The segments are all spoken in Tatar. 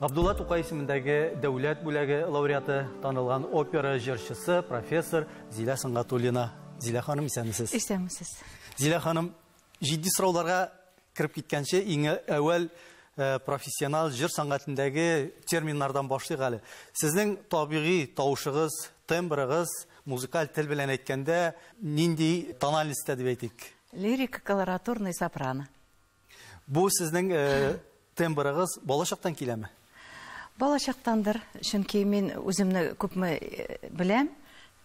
Габдулла Тукай исемендәге дәүләт бүләге лауреаты, танылган опера җырчысы, профессор Зилә Сөнгатуллина. Зилә ханым, исәнмесез. Исәнмесез. Зилә ханым, җитди сорауларга кереп киткәнче, иң әүвәл э, профессионал җыр сәнгатендәге терминнардан башлыйк әле. Сезнең табигый тавышыгыз, тембрыгыз, музыкаль тел белән әйткәндә, нинди тональностьта дип әйтик? Лирика колоратурный сопрано. Бу сезнең э, тембрыгыз балачактан киләме? Балачактандыр, чөнки мин үземне күпме э, беләм,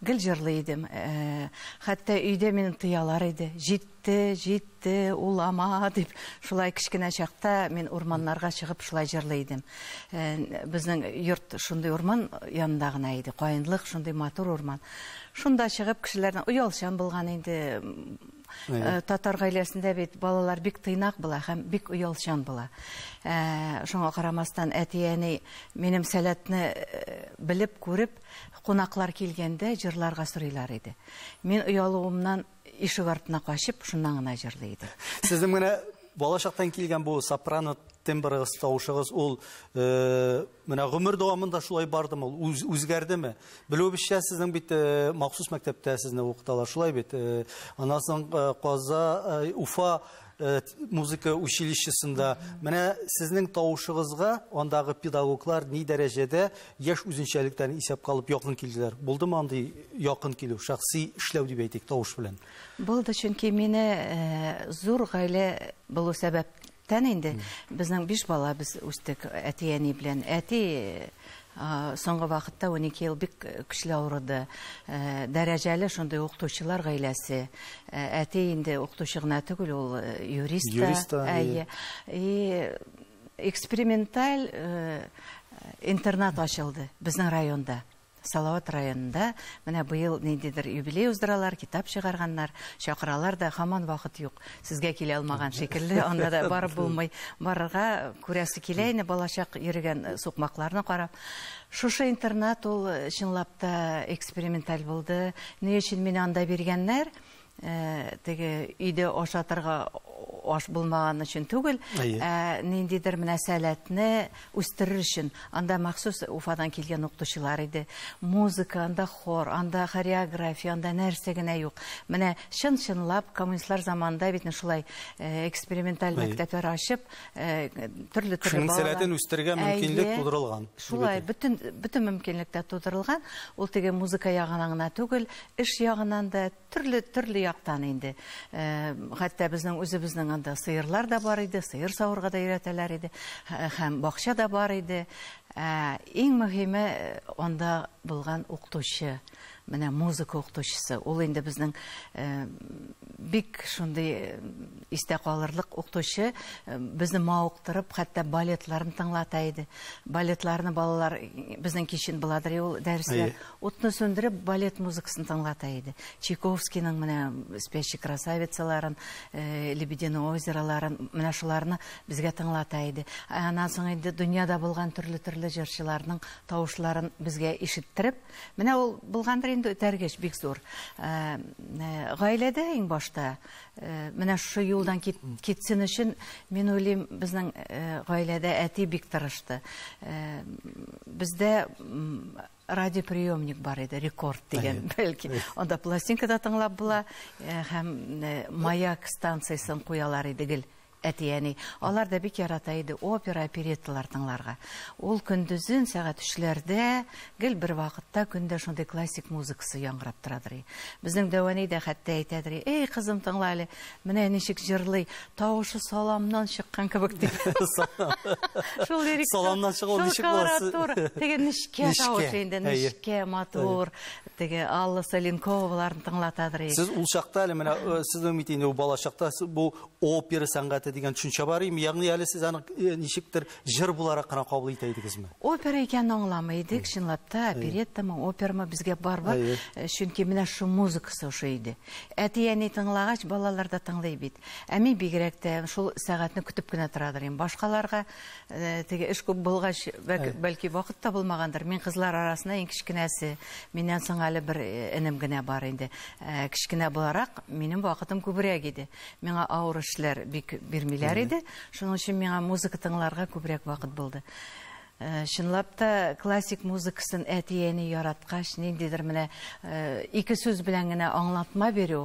гел җырлый идем. Э, хәтта өйдә мин тыялар иде. Җитте, җитте, улама дип, шулай кечкенә чакта мин урманнарга чыгып шулай җырлый идем. Э, безнең йорт шундый урман янында гына иде, каенлык, шундый матур урман. Шунда чыгып кешеләрне оялчан булган инде Э, татар гаиләсендә бит балалар бик тыйнак була һәм бик оялчан була э, шуңа карамастан әти әни минем сәләтне э, белеп күреп кунаклар килгәндә җырларга сорыйлар иде мин оялуымнан ишек артына качып шуннан гына җырлый идем сезнең менә балачактан килгән бу сопрано тембрыгыз тавышыгыз ул Менә гомер дәвамында шулай бардымы ул? Үз, үзгәрдеме? Белүебезчә, сезнең бит э, махсус мәктәптә сезне укыталар, шулай бит. Э, аннан соң э, Каза, э, Уфа э, музыка училищесында. Менә сезнең тавышыгызга андагы педагоглар ни дәрәҗәдә яшь үзенчәлектән исәп калып якын килделәр? Булдымы андый якын килү, шәхси эшләү дип әйтик, тавыш белән? Булды, чөнки мине э, зур гаилә булу сәбәп Тән инде безнең биш бала без үстек әти-әни белән. Әти соңгы вакытта 12 ел бик көчле авырды. Дәрәҗәле шундый укытучылар гаиләсе. Әти инде укытучы гына түгел, ул юрист та. Юрист та. Әйе. И эксперименталь интернат ачылды безнең районда. Салават районында менә быел ниндидер юбилей уздыралар, китап чыгарганнар, чакыралар да, һаман вакыт юк. Сезгә килә алмаган шикелле, анда да барып булмый. Барырга күрәсе килә инде, балачак йөрегән сукмакларны карап. Шушы интернат ул, чынлап та, эксперименталь булды. Ни өчен мине анда биргәннәр? Теге өйдә ашатырга аш булмаган өчен түгел, ә ниндидер менә сәләтне үстерер өчен. Анда махсус Уфадан килгән укытучылар иде. Музыка, анда хор, анда хореография, анда нәрсә генә юк. Менә чын-чынлап коммунистлар заманында бит шулай эксперименталь мәктәпләр ачып, төрле төрле балалар. Сәләтен үстергә мөмкинлек тудырылган. Шулай, бөтен мөмкинлек тә тудырылган. Ул теге музыка ягына гына түгел, Эш ягыннан да, төрле, төрле яктан инде. Хәтта безнең үзебезнең анда сыерлар да бар иде, сыер савырга да өйрәтәләр иде, һәм бакча да бар иде. Ә иң мөһиме анда булган укытучы, менә музыка укытучысы. Ул инде безнең бик шундый истә калырлык укытучы, безне мавыктырып, хәтта балетларын тыңлата иде. Балетларны балалар безнең кичен Баладрыйул дәресләр Утны сүндереп, балет музыкасын тыңлата иде. Чайковскийның менә Спящий красавицаларын, Лебединое озероларын, менә шуларны безгә тыңлата иде. Аннан соң инде дөньяда булган төрле-төрле җырчыларның тавышларын безгә ишеттереп, менә ул булгандыр инде этәргеч бик зур. Гаиләдә иң башта менә шушы юлдан китсен өчен, мин уйлыйм, безнең гаиләдә әти бик тырышты. Бездә радиоприемник бар иде, рекорд дигән, бәлки. Анда пластинка да тыңлап була, э, һәм э, маяк станциясен куялар иде гел әтияни. Алар да бик ярата иде опера, оперетталар тыңларга. Ул көндезен сәгать 3-ләрдә гел бер вакытта көндә шундый классик музыкасы яңгырап торадыр. Безнең Дәвани дә хәтта әйтәдер, "Эй, кызым, тыңла әле, менә ничек җырлый, Тавышы саламнан чыккан кебек дип. Шул лирик. Саламнан чыгу ничек буласы? Теге нечкә тавышы инде, нечкә, матур. Теге Алла Саленковаларын тыңлатадыр ик. Сез ул чакта әле менә э, сез үмит инде бала чакта бу опера сәнгате дигән төшенчә бар име? Ягъни әле сез аны э, ничектер Җыр буларак кына кабул итә идегезме? Опера икәнен аңламый идек, чынлап та, опереттамы, операмы безгә барыбер, э, чөнки менә шул музыкасы ошый иде. Әти-әни тыңлагач, балалар да тыңлый бит. Ә мин бигрәк тә шул сәгатьне көтеп кенә торадыр идем. Башкаларга э, теге эш күп булгач, бәлки вакыт та булмагандыр. Мин кызлар арасында иң кечкенәсе. Миннән соң әле бер э, энем генә бар инде. Кечкенә буларак, минем вакытым күбрәк иде. Миңа авыр эшләр бик бирмиләр иде. Шуның өчен миңа музыка тыңларга күбрәк вакыт булды. Э, чынлап та классик музыкасын әти-әни яраткач, ниндидер менә э, ике сүз белән генә аңлатма бирү,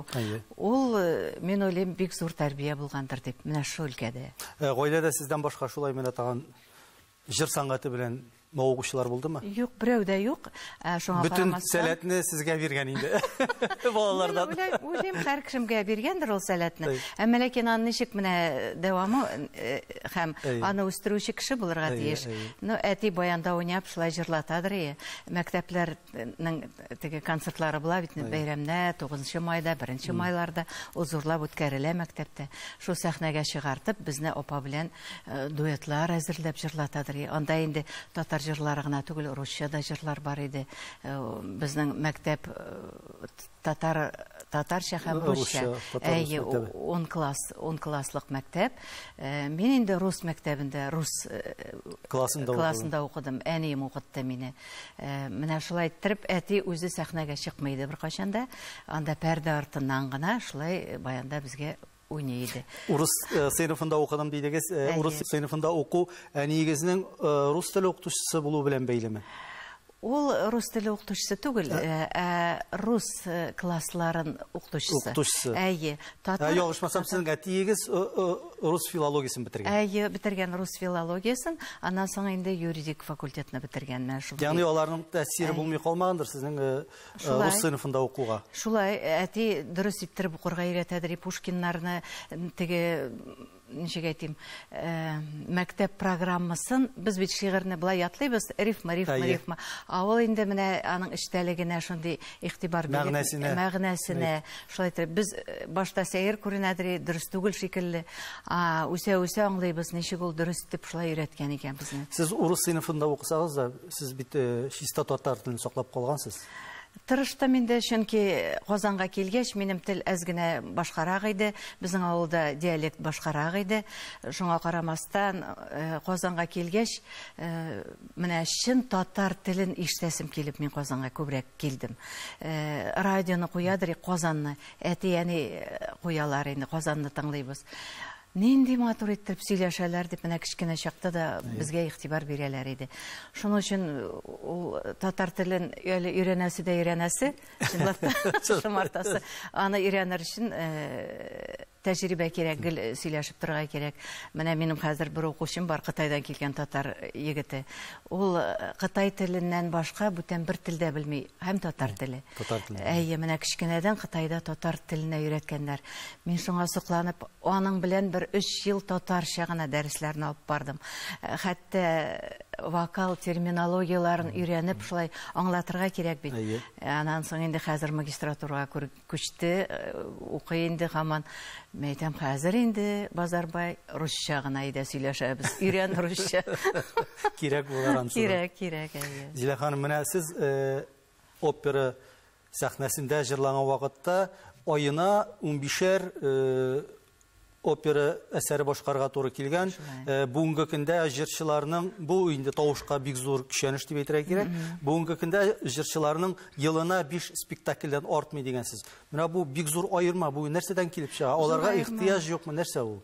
ул, э, мин уйлыйм, бик зур тәрбия булгандыр дип, менә шул өлкәдә. Гаиләдә сездән башка шулай менә тагын Җыр сәнгате белән мавыгучылар булдымы? Юк, берәү дә юк. Ә, шуңа Бөтен карамастан- сәләтне сезгә биргән инде. Балалардан. Мин уйлай- уйлыйм, һәр кешемгә биргәндер ул сәләтне. Әй. Әмма ләкин аны ничек менә дәвамы э, һәм Әй. аны үстерүче кеше булырга Әй, тиеш. әй. Ну, әти баянда уйнап, шулай җырлатадыр и. Мәктәпләрнең теге концертлары була бит инде, бәйрәмнәр, 9 майда, 1 майларда ул зурлап үткәрелә мәктәптә. Шул сәхнәгә чыгартып, безне апа белән Э, дуэтлар әзерләп җырлатадыр анда инде татар җырлары гына түгел русча да җырлар бар иде э, безнең мәктәп э, татар татарча һәм русча әйе он класс он класслык мәктәп мин инде рус мәктәбендә рус классында классында укыдым әнием укытты мине менә шулай иттереп әти үзе сәхнәгә чыкмый иде беркайчан да анда пәрдә артыннан гына шулай баянда безгә уйный иде. Урыс э, сыйныфында укыдым дидегез. Э, урыс сыйныфында уку әниегезнең э, рус теле укытучысы булу белән бәйлеме? Ул рус теле укытучысы түгел, ә рус классларын укытучысы. Укытучысы. Әйе. Татар. Ялгышмасам, сезнең әтиегез рус филологиясен бетергән. Әйе, бетергән рус филологиясен, аннан соң инде юридик факультетны бетергән менә шул. Ягъни аларның тәэсире булмый калмагандыр сезнең Шулай. Рус сыйныфында укуга. Шулай, әти дөрес иттереп укырга өйрәтәдер, и Пушкиннарны теге ничек әйтим, э, мәктәп программасын без бит шигырьне былай ятлыйбыз, рифма, рифма, Әйе. рифма. А ул инде менә аның эчтәлегенә шундый игътибар биреп, Мәгънәсенә. мәгънәсенә, шулай итеп без э, башта сәер күренәдер, дөрес түгел шикелле. А үсә-үсә аңлыйбыз, ничек ул дөрес дип шулай өйрәткән икән безне. Сез урыс сыйныфында укысагыз да, Сез бит чиста татар телен саклап калгансыз. Тырыштым инде, чөнки Казанга килгәч, минем тел әз генә башкарак иде. Безнең авылда диалект башкарак иде. Шуңа карамастан, э, Казанга килгәч, э, менә чын татар телен ишетәсем килеп, мин Казанга күбрәк килдем. Э, радионы куядыр, Казанны, әти-әни куялар инде, Казанны тыңлыйбыз. Нинди матур иттереп сөйләшәләр дип менә кечкенә чакта да безгә игътибар бирәләр иде. Шуның өчен ул татар телен әле өйрәнәсе дә өйрәнәсе, чынлап та шомартасы. Аны өйрәнер өчен тәҗрибә кирәк, гел сөйләшеп торырга кирәк. Менә минем хәзер бер укучым бар, Кытайдан килгән татар егете. Ул кытай теленнән башка бүтән бер тел дә белми, һәм татар теле. Татар теле. Әйе, менә кечкенәдән Кытайда татар теленә өйрәткәннәр. Мин шуңа сокланып, аның белән бер өч ел татарча гына дәресләрне алып бардым. Хәтта вокал терминологияләрен өйрәнеп, шулай аңлатырга кирәк бит. Әйе. Аннан соң инде хәзер магистратурага Күчте, укый инде һаман. Мин әйтәм, хәзер инде, Базарбай, русча гына әйдә сөйләшәбез. Өйрән русча. Кирәк булыр ансы. Кирәк, кирәк, әйе. Зилә ханым, менә сез э, опера сәхнәсендә җырланган вакытта аена унбишәр э, опера әсәре башкарга туры килгән. Э, бүгенге көндә җырчыларның бу инде тавышка бик зур көчәнеш дип әйтергә кирәк. Бүгенге көндә җырчыларның елына 5 спектакльдән артмый дигән сүз. Менә бу бик зур аерма. Бу нәрсәдән килеп чыга? Аларга ихтыяҗ юкмы? Нәрсә ул?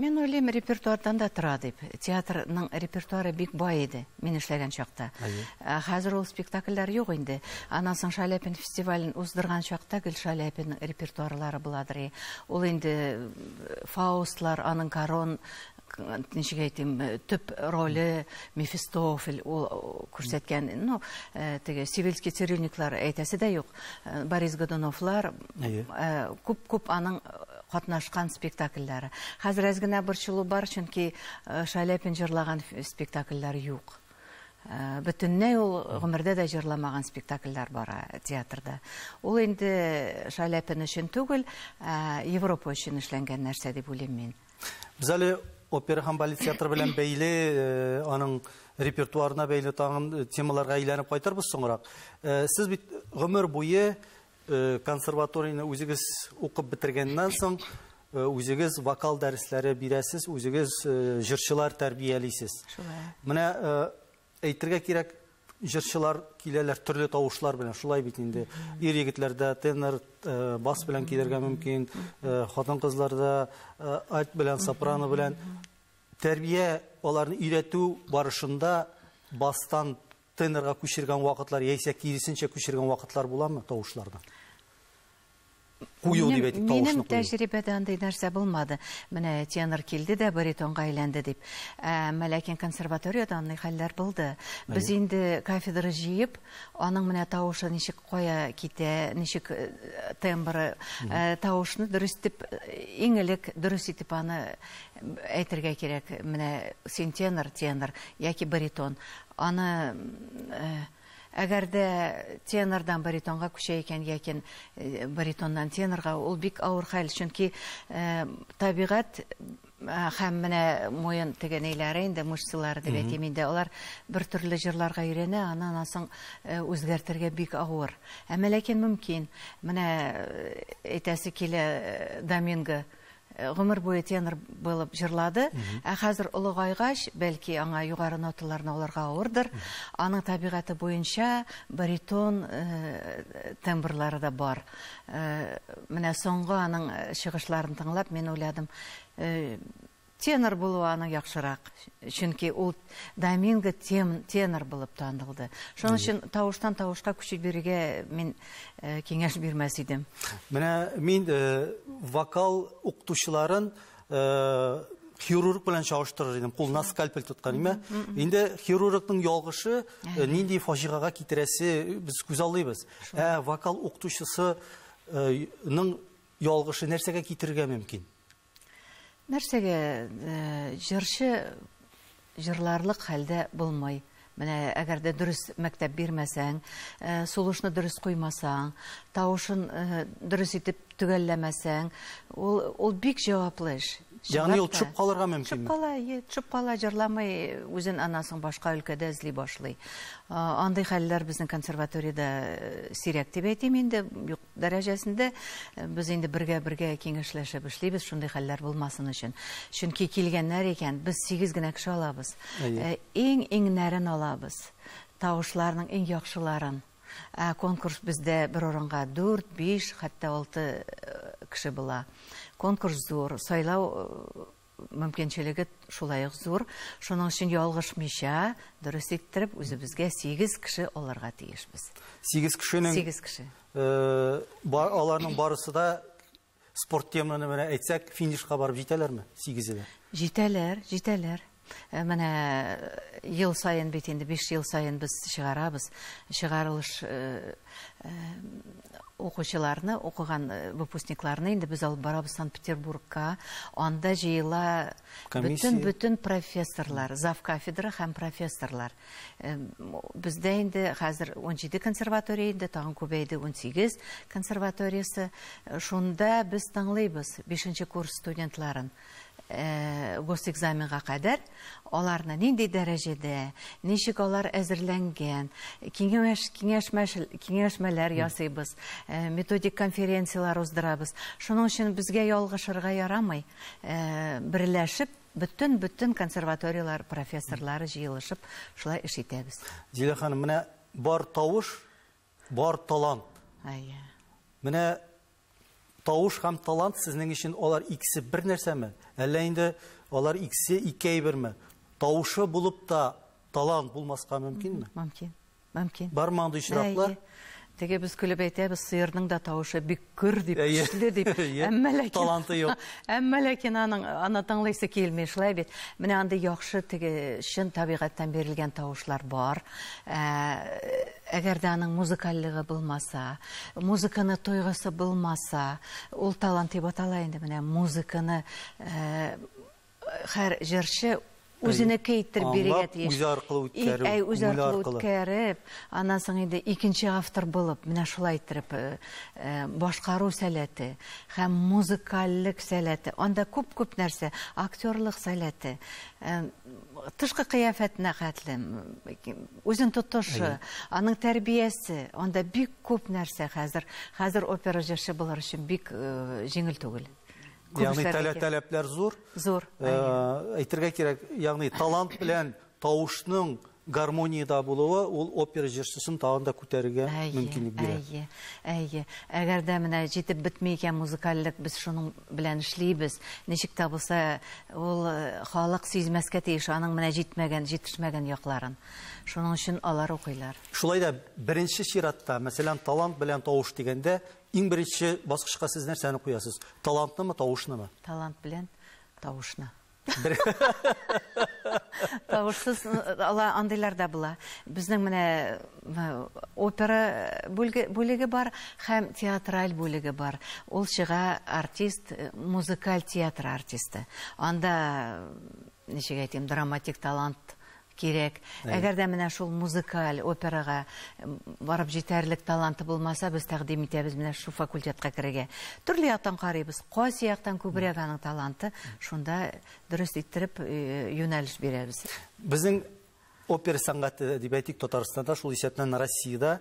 Мин уйлыйм, репертуардан да тора дип. Театрның репертуары бик бай иде, мин эшләгән чакта. Ә хәзер ул спектакльләр юк инде. Аннан соң Шаляпин фестивален уздырган чакта гел Шаляпинның репертуарлары буладыр. Ул инде э, Фаустлар, аның Корон ничек әйтим, э, төп роле Мефистофель ул э, күрсәткән, ну, теге Сивильский цирюльниклар әйтәсе дә юк. Борис Годуновлар күп-күп аның катнашкан спектакльләре. Хәзер әз генә борчылу бар, чөнки Шаляпин җырлаган спектакльләр юк. бөтенләй ул гомердә дә җырламаган спектакльләр бара театрда. Ул инде Шаляпин өчен түгел, Европа өчен эшләнгән нәрсә дип уйлыйм мин. Без әле опера һәм балет театры белән бәйле, аның репертуарына бәйле тагын темаларга әйләнеп кайтырбыз соңрак. Сез бит гомер буе Э, консерваторияне үзегез укып бетергәннән соң э, үзегез вокал дәресләре бирәсез үзегез э, җырчылар тәрбиялисез шулай менә әйтергә кирәк җырчылар киләләр төрле тавышлар белән шулай бит инде ир егетләрдә тенор бас белән килергә мөмкин хатын кызларда альт белән сопрано белән тәрбия аларны өйрәтү барышында бастан Тенорга күчергән вакытлар яисә киресенчә күчергән вакытлар буламы тавышларны? Кую дип әйтик, тавышны кую. Минем тәҗрибәдә андый нәрсә булмады. Менә тенор килде дә баритонга әйләнде дип. Әмма ләкин консерваториядә андый хәлләр булды. Без инде кафедра җыеп, аның менә тавышы ничек кая китә, ничек э, тембры, э, тавышны дөрес итеп, иң элек дөрес итеп аны әйтергә кирәк. Менә син тенор, тенор яки баритон. Аны әгәр дә тенордан баритонга күчә икән яки баритоннан тенорга, ул бик авыр хәл, чөнки табигать һәм менә муен теге ниләре инде мышцалары дип әйтим инде алар бер төрле җырларга өйрәнә аны аннан соң э, үзгәртергә бик авыр әмма ләкин мөмкин менә э, әйтәсе килә э, доминго Гомер буе тенор булып җырлады. Ә хәзер олыгайгач, бәлки, аңа югары ноталарны алырга авырдыр. Аның табигате буенча баритон тембрлары да бар. Менә соңгы аның чыгышларын тыңлап, мин уйладым, тенор булуы аның яхшырак, чөнки ул Доминго тем, тенор булып танылды. Шуның өчен тавыштан тавышка күчеп бирергә мин э, киңәш бирмәс идем. Менә мин э, вокал укытучыларын э, хирург белән чагыштырыр идем. Кулына скальпель тоткан име? Инде хирургның ялгышы э, нинди фаҗигага китерәсе без күз алдыйбыз. Ә вокал укытучысы э, ның ялгышы нәрсәгә китерергә мөмкин? Нәрсәгә җырчы җырларлык хәлдә булмый? Менә әгәр дә дөрес мәктәп бирмәсәң, сулышны дөрес куймасаң, тавышын дөрес итеп төгәлләмәсәң, ул ул бик җаваплы эш. Ягъни ул төшеп калырга мөмкинме? Төшеп кала, ие, төшеп кала, җырламый, үзен анасың башка өлкәдә эзли башлый. Андый хәлләр безнең консерваториядә сирәк дип әйтим инде, юк дәрәҗәсендә без инде бергә-бергә киңәшләшеп эшлибез, шундый хәлләр булмасын өчен. Чөнки килгәннәр икән, без сигез генә кеше алабыз. Ә, иң иңнәрен алабыз, тавышларның иң яхшыларын. Ә конкурс бездә бер урынга дүрт, биш, хәтта алты э, кеше була. Конкурс зур, сайлау э, мөмкинчелеге шулай ук зур, шуның өчен ялгышмыйча, дөрес иттереп, үзебезгә сигез кеше алырга тиешбез. Сигез кешенең... Сигез кеше. Э, аларның барысы да спорт теманы менә әйтсәк, финишка барып җитәләрме? Сигезе дә. Җитәләр, җитәләр. Э, менә э, ел саен бит инде 5 ел саен без чыгарабыз. Чыгарылыш э, укучыларны, укыган э, выпускникларны инде без алып барабыз Санкт-Петербургка. Анда җыела бөтен бөтен профессорлар, зав кафедра һәм профессорлар. Э, бездә инде хәзер 17 консерватория инде, тагын күбәйде 18 консерваториясе. Э, шунда без тыңлыйбыз 5 курс студентларын. госэкзаменга кадәр аларны нинди дәрәҗәдә, ничек алар әзерләнгән, киңәш, киңәшмәш, киңәшмәләр ясыйбыз, методик конференцияләр уздырабыз. Шуның өчен безгә ялгышырга ярамый. Берләшеп, бөтен-бөтен консерваторияләр профессорлары җыелышып, шулай эш итәбез. Зилә ханым, менә бар тавыш Бар талант. Әйе. Менә тавыш һәм талант сезнең өчен алар икесе бер нәрсәме? Әллә инде алар икесе ике әйберме? Тавышы булып та талант булмаска мөмкинме? Мөмкин. Мөмкин. Бармы андый очраклар? Теге без көлеп әйтәбез, сыерның да тавышы бик Гөр дип, көчле дип. Әмма ләкин... Таланты юк. Әмма ләкин аның, аны тыңлыйсы килми, шулай бит. Менә андый яхшы теге чын табигатьтән бирелгән тавышлар бар. Ә, әгәр дә аның музыкальлыгы булмаса, музыканы тойгысы булмаса, ул талант дип атала инде менә музыканы, ә, Хәр җырчы үзенеке иттереп бирегә тиеш. Үзе аркылы үткәрү, әй, үзе аркылы үткәреп, аннан соң инде икенче автор булып, менә шулай иттереп, э, э, башкару сәләте һәм музыкальлек сәләте, анда күп-күп нәрсә, актерлык сәләте, э, тышкы кыяфәтенә хәтле, үзен тотышы, аның тәрбиясе, анда бик күп нәрсә хәзер, хәзер опера җырчы булыр өчен бик җиңел түгел. Ягъни таләпләр зур. Зур. Әйтергә кирәк, ягъни талант белән тавышның гармониядә булуы ул опера җырчысын тагын да күтәрергә мөмкинлек бирә. Әйе, әйе. Әгәр дә менә җитеп бетми икән музыкальлек, без шуның белән эшлибез. Ничек тә булса, ул халык сизмәскә тиеш аның менә җитмәгән, җитешмәгән якларын. Шуның өчен алар укыйлар. Шулай да беренче чиратта, мәсәлән, талант белән тавыш дигәндә, Иң беренче баскычка сез нәрсәне куясыз? Талантнымы, тавышнымы? Талант белән тавышны. Тавышсыз ала андыйлар да була. Безнең менә опера бүлеге бар һәм театраль бүлеге бар. Ул чыга артист, музыкаль театр артисты. Анда ничек әйтим, драматик талант Кирәк. Әгәр дә менә шул музыкаль операга барып җитәрлек таланты булмаса, без тәкъдим итәбез менә шул факультетка керергә. Төрле яктан карыйбыз. Кайсы яктан күбрәк аның таланты, шунда дөрес иттереп э, юнәлеш бирәбез. Безнең опера сәнгате дип әйтик Татарстанда, шул исәптән Россиядә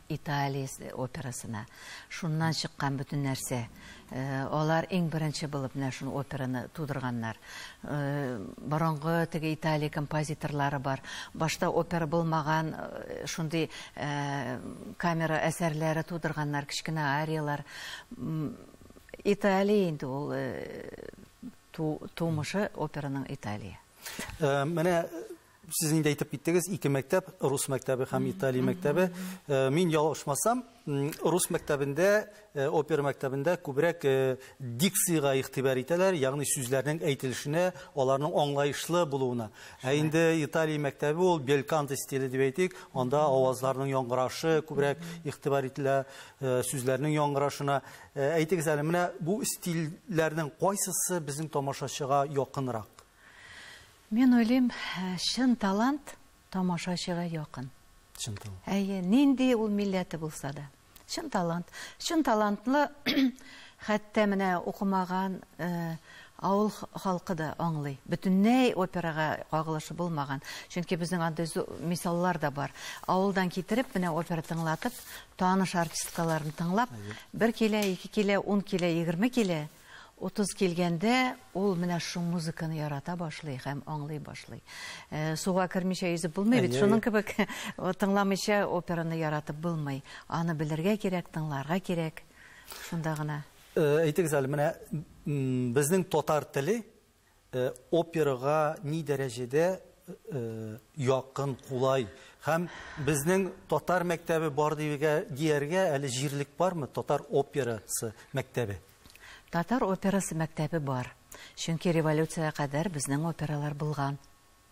Италия операсына. Шуннан чыккан бөтен нәрсә. Алар иң беренче булып менә шул операны тудырганнар. Борынгы теге Италия композиторлары бар. Башта опера булмаган шундый камера әсәрләре тудырганнар, кечкенә арияләр. Италия инде ул тумышы операның Италия. Менә Сез инде әйтеп киттегез, ике мәктәп, рус мәктәбе һәм Италия мәктәбе. Э, мин ялгышмасам, рус мәктәбендә, э, опера мәктәбендә күбрәк э, дикциягә игътибар итәләр, ягъни сүзләрнең әйтелешенә, аларның аңлаешлы булуына. Ә инде Италия мәктәбе ул белканте стиле дип әйтик, анда авазларның яңгырашы күбрәк игътибар ителә, сүзләрнең яңгырашына. Әйтегез әле, менә бу стильләрнең кайсысы безнең тамашачыга якынрак? Мин уйлыйм, чын талант тамашачыга якын. Чын талант. Әйе, нинди ул милләте булса да. Чын талант. Чын талантлы хәтта менә укымаган э, авыл халкы да аңлый. Бөтенләй операга кагылышы булмаган. Чөнки безнең андый мисаллар да бар. Авылдан китереп, менә опера тыңлатып, таныш артисткаларын тыңлап, бер килә, ике килә, ун килә, егерме килә, Утыз килгәндә ул менә шул музыканы ярата башлый һәм аңлый башлый. Э, суга кермичә йөзеп булмый бит, шуның кебек тыңламыйча операны яратып булмый. Аны белергә кирәк, тыңларга кирәк. Шунда гына. Э, әйтегез әле, менә безнең татар теле Э, операга ни дәрәҗәдә э, э, якын, кулай һәм безнең татар мәктәбе бар дигә дияргә әле җирлек бармы татар операсы мәктәбе? Татар операсы мәктәбе бар. Чөнки революциягә кадәр безнең опералар булган.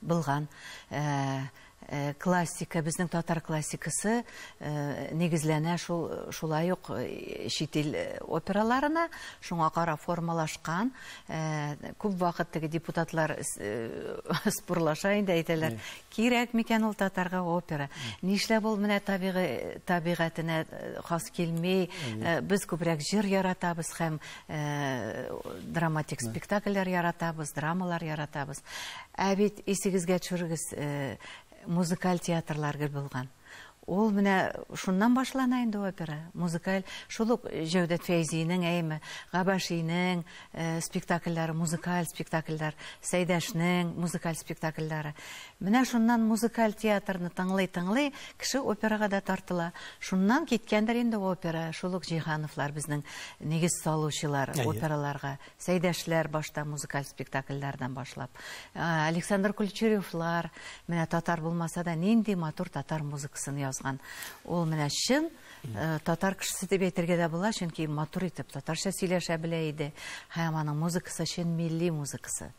Булган. Ә, ә, классика, безнең татар классикасы ә, нигезләнә шул, шулай ук ә, чит ил операларына, шуңа карап формалашкан. Ә, күп вакыт теге депутатлар ә, спорлаша инде әйтәләр, кирәк микән ул татарга опера? Нишләп ул менә табигый табигатенә хас килми? Ә, без күбрәк җыр яратабыз һәм драматик спектакльләр яратабыз, драмалар яратабыз. Ә бит исегезгә төшерегез, музыкаль театрлар гел булган. Ул менә шуннан башлана инде опера, музыкаль. Шул ук Җәүдәт Фәйзинең, әйеме, Габашинең спектакльләре, музыкаль спектакльләр, Сәйдәшнең музыкаль спектакльләре. Менә шуннан музыкаль театрны тыңлый-тыңлый, кеше операга да тартыла. Шуннан киткәндер инде опера, шул ук Җиһановлар безнең нигез салучылар операларга. Сәйдәшләр башта музыкаль спектакльләрдән башлап. Александр Кульчеревлар, менә татар булмаса да, нинди матур татар музыкасын язган. Ул менә чын Э, татар кешесе дип әйтергә дә була чөнки матур итеп татарча сөйләшә белә иде һәм аның музыкасы чын милли музыкасы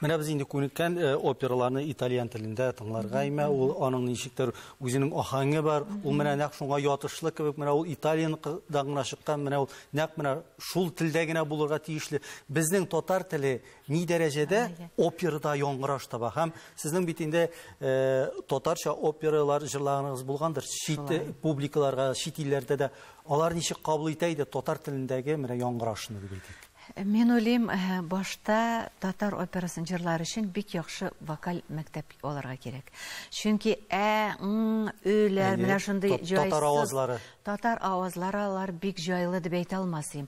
менә без инде күнеккән э, операларны итальян телендә тыңларга имә ул аның ничектер үзенең ахаңы бар ул менә нәкъ шуңа ятышлы кебек менә ул италияныкыдан гына чыккан менә ул нәкъ менә шул телдә генә булырга тиешле безнең татар теле ни дәрәҗәдә операда яңгыраш таба һәм сезнең бит инде э, татарча опералар җырлаганыгыз булгандыр чит э, публикаларга чит илләрдә дә алар ничек кабул итә иде татар телендәге менә яңгырашны дип әйтик Мин уйлыйм, э, башта татар операсын җырлар өчен бик яхшы вокаль мәктәп алырга кирәк. Чөнки ә, ң, өйләр, менә шундый җайсыз. Татар авазлары. Татар авазлары алар бик җайлы дип әйтә алмасым.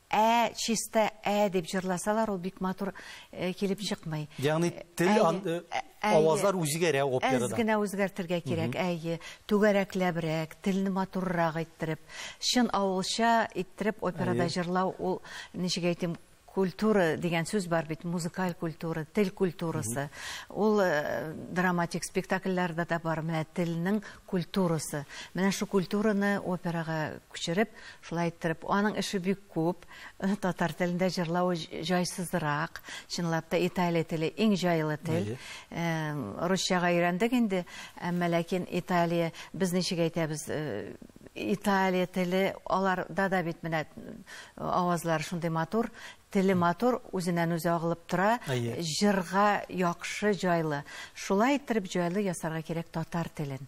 Ә, чиста ә дип җырласалар, ул бик матур килеп чыкмый. Ягъни тел авазлар үзгәрә операда. Әз генә үзгәртергә кирәк, әйе. Түгәрәкләбрәк, телне матуррак иттереп, чын авылча иттереп операда җырлау, ул, ничек әйтим, культура дигән сүз бар бит, музыкаль культура, тел культурасы. Ул драматик спектакльләрдә дә бар, менә телнең культурасы. Менә шул культураны операга күчереп, Шулай иттереп, аның эше бик күп. Татар телендә җырлавы җайсызрак. Чынлап та Италия теле иң җайлы тел. Русчага өйрәндек инде, әмма ләкин Италия, без ничек әйтәбез, Италия теле, аларда да бит менә авазлар шундый матур, теле матур, үзеннән үзе агылып тора, җырга яхшы, җайлы. Шулай иттереп җайлы ясарга кирәк татар телен.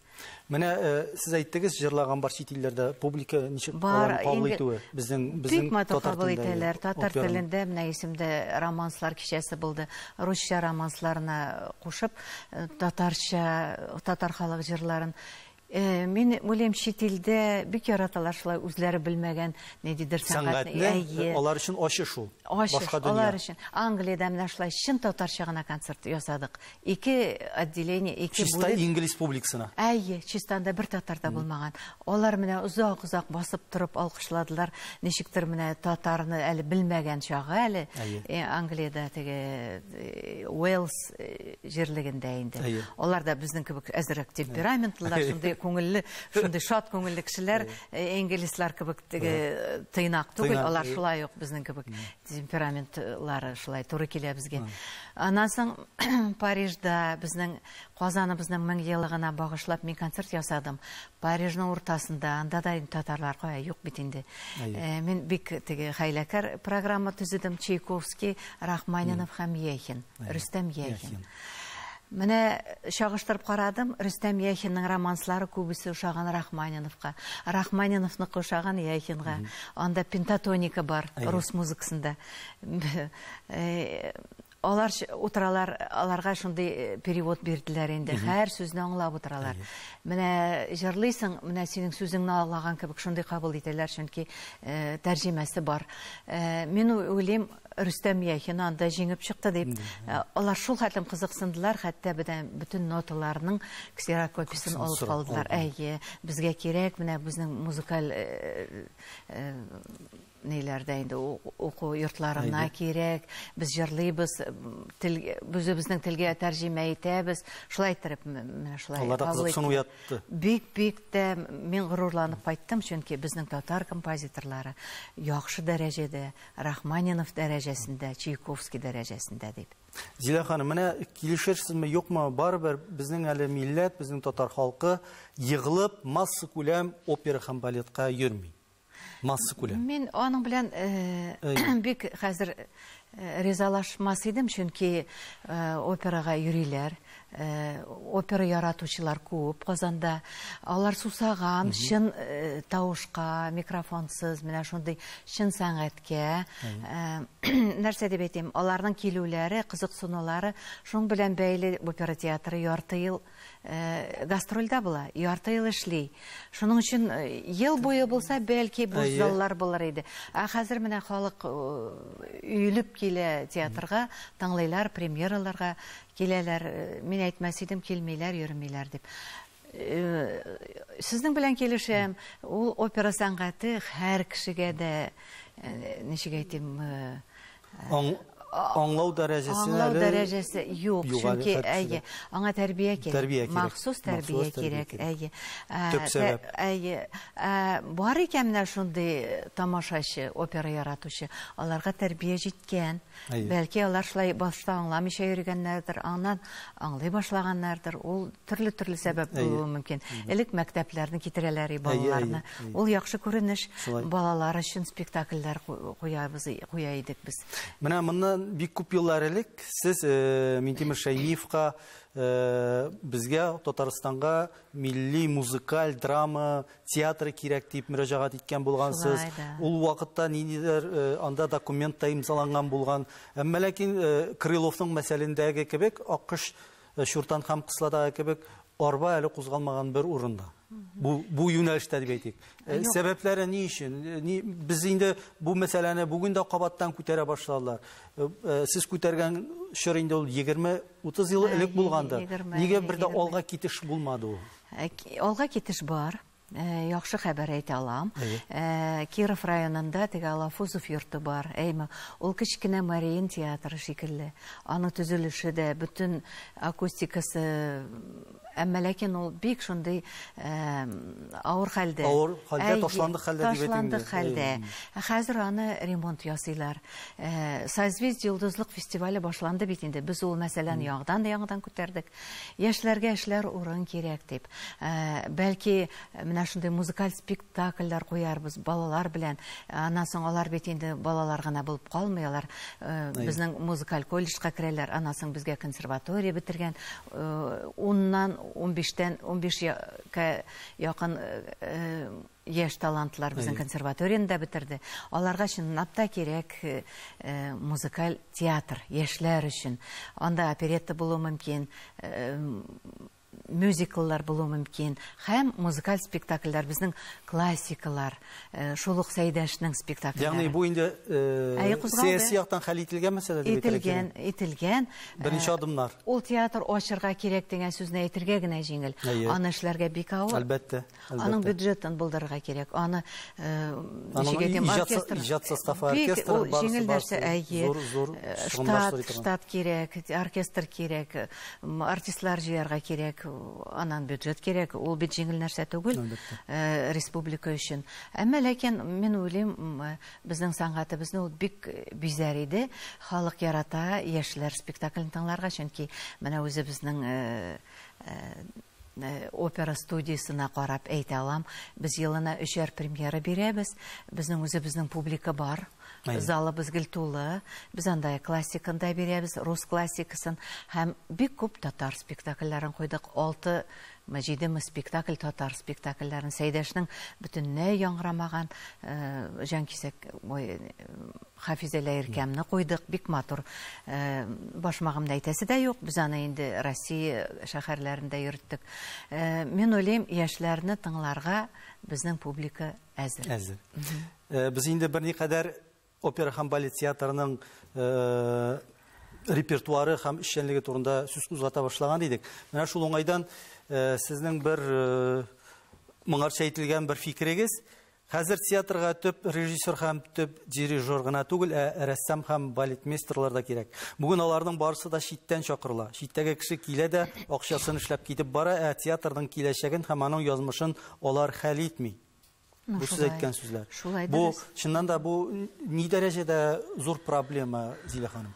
Менә э, сез әйттегез, җырлаган бар чит илләрдә публика ничек бар, кабул итүе безнең безнең бик матур кабул итәләр. Татар телендә менә исемдә романслар кичәсе булды. Русча романсларына кушып, э, татарча, татар халык җырларын э, Мин уйлыйм чит илдә бик яраталар шулай үзләре белмәгән ниндидер сәнгатьне. Алар өчен ачы шул. Башка дөнья. Алар өчен Англиядә менә шулай чын татарча гына концерт ясадык. Ике отделение, ике бүлек. Чистай инг республикасына. Әйе, чистанда бер татар да булмаган. Алар менә озак-озак басып торып алкышладылар. Ничектер менә татарны әле белмәгән чагы әле. Э, Англиядә теге э, Уэльс э, җирлегендә инде. Алар да безнең кебек әзрәк темпераментлылар, шундый күңелле, шундый шат күңелле кешеләр, инглизлар кебек теге тыйнак түгел, алар шулай ук безнең кебек темпераментлары шулай туры килә безгә. Аннан соң Парижда безнең Казаныбызның 1000 еллыгына багышлап мин концерт ясадым. Парижның уртасында, анда да татарлар кая юк бит инде. Э, мин бик теге хәйләкәр программа төзедем Чайковский, Рахманинов һәм Яхин, Рөстәм Яхин. Менә чагыштырып карадым, Рөстәм Яхинның романслары күбесе ошаган Рахманиновка, Рахманиновныкы ошаган Яхинга. Анда пентатоника бар, рус музыкасында. Алар утыралар, аларга шундый э, перевод бирделәр инде. Һәр сүзне аңлап утыралар. Менә җырлыйсың, менә синең сүзеңне аңлаган кебек шундый кабул итәләр, чөнки э, тәрҗемәсе бар. Э, мин уйлыйм, Рөстәм Яхин анда җиңеп чыкты дип, э, алар шул хәтлем кызыксындылар, хәтта бедән бөтен ноталарның ксерокопиясен алып сорап калдылар. калдылар. Әйе, безгә кирәк, менә безнең музыкаль э, э, ниләрдә инде у- уку йортларына Әйе. кирәк. Без җырлыйбыз, м, тел үзебезнең телгә тәрҗемә итәбез. Шулай иттереп м- менә шулай. Аларда кабул кызыксыну иттеләр. уятты. Бик бик тә мин горурланып кайттым, чөнки безнең татар композиторлары яхшы дәрәҗәдә Рахманинов дәрәҗәсендә, Чайковский дәрәҗәсендә дип. Зилә ханым, менә килешерсезме, юкмы, барыбер безнең әле милләт, безнең татар халкы егылып масса күләм опера һәм балетка йөрми. Масса күләм. Мин аның белән э, бик хәзер э, ризалашмас идем, чөнки э, операга йөриләр, Опера яратучылар күп Казанда. Алар сусаган, чын тавышка, микрофонсыз, менә шундый чын сәнгатькә. Нәрсә дип әйтим, аларның килүләре, кызыксынулары шуның белән бәйле. Опера театры ярты ел гастрольдә була, ярты ел эшли. Шуның өчен ел буе булса, бәлки буш заллар булыр иде. Ә хәзер менә халык өелеп килә театрга, тыңлыйлар, премьераларга Киләләр, мин әйтмәс идем, килмиләр, йөрмиләр дип. Сезнең белән килешәм, ул опера сәнгате һәр кешегә дә, ничек әйтим, аңлау дәрәҗәсе аңлау дәрәҗәсе юк, чөнки әйе, аңа тәрбия кирәк, махсус тәрбия кирәк, әйе. Төп сәбәп. Әйе. Бар икән менә шундый тамашачы, опера яратучы, аларга тәрбия җиткән. Бәлки алар шулай башта аңламыйча йөргәннәрдер, аннан аңлый башлаганнардыр. Ул төрле-төрле сәбәп булуы мөмкин. Элек мәктәпләрне китерәләр и балаларны. Ул яхшы күренеш. Балалар өчен спектакльләр куябыз, куя идек без. Менә моннан бик күп еллар элек сез э, Минтимер Шәймиевка э, безгә Татарстанга милли музыкаль драма театры кирәк дип мөрәҗәгать иткән булгансыз. Ул вакытта ниндидер э, анда документ та имзаланган булган. Әмма ләкин э, Крыловның мәсәлендәге кебек Аккош э, Чуртан һәм Кысладагы кебек арба әле кузгалмаган бер урында. Бу бу юнәлештә дип әйтик. Сәбәпләре ни өчен? Ни без инде бу мәсьәләне бүген дә кабаттан күтәрә башладылар. Сез күтәргән чор инде ул 20 Утыз ел элек булгандыр. Нигә бер дә алга китеш булмады ул? Э, алга китеш бар. Э, яхшы хәбәр әйтә алам. Э, Киров районында теге Алафузов йорты бар. Әйме, ул кечкенә Мариин театры шикелле. Аның төзелеше дә, бөтен акустикасы Әмма ләкин ул бик шундый авыр хәлдә. Авыр хәлдә, ташландык хәлдә дип әйтәм. Ташландык хәлдә. Хәзер аны ремонт ясыйлар. Созвездие йолдызлык фестивале башланды бит инде. Без ул мәсьәләне яңадан яңадан күтәрдек. Яшьләргә эшләр урын кирәк дип. Бәлки менә шундый музыкаль спектакль Спектакльләр куярбыз балалар белән. Аннан соң алар бит инде балалар гына булып калмый, алар безнең музыкаль колледжка керәләр, аннан соң безгә консерватория бетергән. Уннан, унбиштән, унбиш кә якын яшь талантлар безнең консерваторияне дә бетерде. Аларга чынлап та кирәк музыкаль театр, яшьләр өчен. Анда оперетта булуы мөмкин, мюзикллар булуы мөмкин һәм музыкаль спектакльләр, безнең классикалар, шул ук Сәйдәшнең спектакльләре. Ягъни бу инде сәяси яктан хәл ителгән мәсьәлә дип әйтергә кирәкме? Ителгән, ителгән. Беренче адымнар. Ул театр ачырга кирәк дигән сүзне әйтергә генә җиңел, аны эшләргә бик авыр. Әлбәттә. Аның бюджетын булдырырга кирәк. Аны оркестр, иҗат составы, оркестр барысы барысы. Әйе, штат, штат кирәк, оркестр кирәк, артистлар җыярга кирәк, аннан бюджет кирәк. Ул бит җиңел нәрсә түгел республика өчен. Әмма ләкин мин уйлыйм, безнең сәнгатебезне ул бик бизәр иде. Халык ярата яшьләр спектаклен тыңларга, чөнки менә үзебезнең Опера студиясенә карап әйтә алам. Без елына өчәр премьера бирәбез. Безнең үзебезнең публика бар. Залыбыз гел тулы. Без анда классиканы да бирәбез, рус классикасын һәм бик күп татар спектакльләрен куйдык. Алтымы, җидеме спектакль татар спектакльләрен. Сәйдәшнең бөтенләй яңгырамаган Җанкисәк, ой, Хафизәлә иркәмне куйдык, бик матур. Башмагымны әйтәсе дә юк, без аны инде Россия шәһәрләрендә йөрттек. Мин уйлыйм, яшьләрне тыңларга безнең публика әзер. Әзер. Без инде берникадәр опера һәм балет театрының репертуары һәм эшчәнлеге турында сүз кузгата башлаган идек. Менә шул уңайдан сезнең бер моңарча әйтелгән бер фикерегез, Хәзер театрга төп режиссер һәм төп дирижер гына түгел, ә рәссам һәм балетмейстерлар да кирәк. Бүген аларның барысы да читтән чакырыла. Читтәге кеше килә дә, акчасын эшләп китеп бара, ә театрның киләчәген һәм аның язмышын алар хәл итми. Ну, Бу сез шулай. әйткән сүзләр. Шулай Бу, дөрес. чыннан да, бу ни дәрәҗәдә зур проблема, Зилә ханым?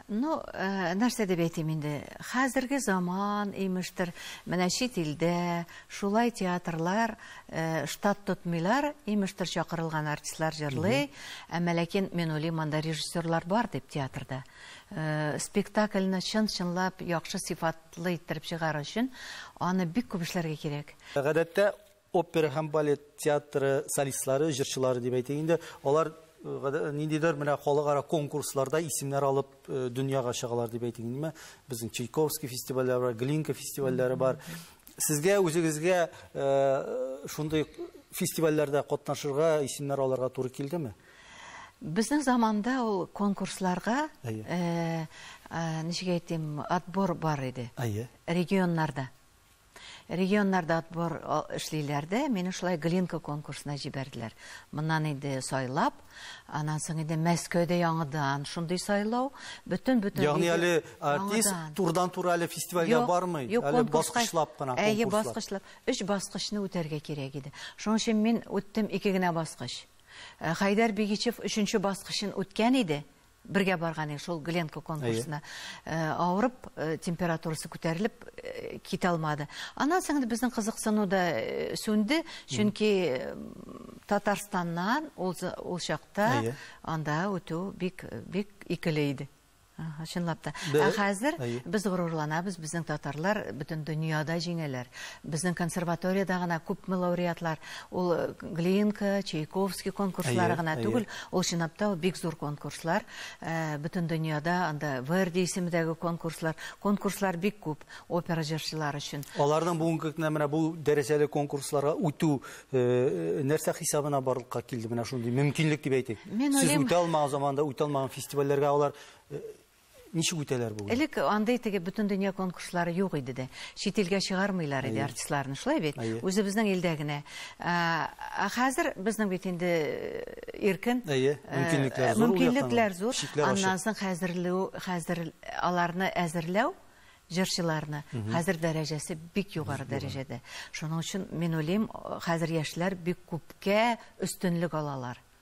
Ну, э, нәрсә дип әйтим инде? Хәзерге заман, имештер, менә чит илдә шулай театрлар э, штат тотмыйлар, имештер чакырылган артистлар җырлый, әмма ләкин мин уйлыйм, анда режиссерлар бар дип театрда. Э, спектакльне чын-чынлап яхшы сыйфатлы иттереп чыгару өчен аны бик күп эшләргә кирәк. Гадәттә Опера һәм балет театры солистлары, җырчылары дип әйтик инде, алар э, ниндидер менә халыкара конкурсларда исемнәр алып э, дөньяга чыгалар дип әйтик инде. Безнең Чайковский фестивальләре бар, Глинка фестивальләре бар. Сезгә үзегезгә э, шундый фестивальләрдә катнашырга, исемнәр алырга туры килдеме? Безнең заманда ул конкурсларга ничек әйтим, отбор бар иде. Регионнарда. Регионнарда отбор эшлиләр дә, мине шулай Глинка конкурсына җибәрделәр. Моннан инде сайлап, аннан соң инде Мәскәүдә яңадан шундый сайлау, бөтен бөтен Ягъни әле артист турдан-туры әле фестивальгә бармый, әле баскычлап кына конкурслар. Әйе, баскычлап. Өч баскычны үтәргә кирәк иде. Шуның өчен мин үттем ике генә баскыч. Э, Хәйдәр Бигичев өченче баскычын үткән иде. Бергә барган идек шул Гленко конкурсына. Авырып, температурасы күтәрелеп, китә алмады. Аннан соң инде безнең кызыксыну да сүнде, чөнки Татарстаннан ул чакта анда үтү бик икеле иде. Чынлап та. Ә хәзер без горурланабыз, безнең татарлар бөтен дөньяда җиңәләр. Безнең консерваториядә генә күпме лауреатлар, ул Глинка, Чайковский конкурслары гына түгел, ул чынлап та ул бик зур конкурслар, бөтен дөньяда анда Верди исемендәге конкурслар, конкурслар бик күп опера җырчылары өчен. Аларның бүгенге көнне менә бу дәрәҗәле конкурсларга үтү нәрсә хисабына барлыкка килде менә шундый мөмкинлек дип әйтик. Сез үтә алмаган заманда үтә алмаган фестивальләргә алар Ничек үтәләр бүген? Элек андый теге бөтен дөнья конкурслары юк иде дә. Чит илгә чыгармыйлар иде артистларны, шулай бит? Үзебезнең илдә генә. Ә хәзер безнең бит инде иркен. Әйе, мөмкинлекләр зур. Мөмкинлекләр зур. Аннан соң хәзерләү, хәзер аларны әзерләү, җырчыларны, хәзер дәрәҗәсе бик югары дәрәҗәдә. Шуның өчен мин уйлыйм, хәзер яшьләр бик күпкә өстенлек алалар.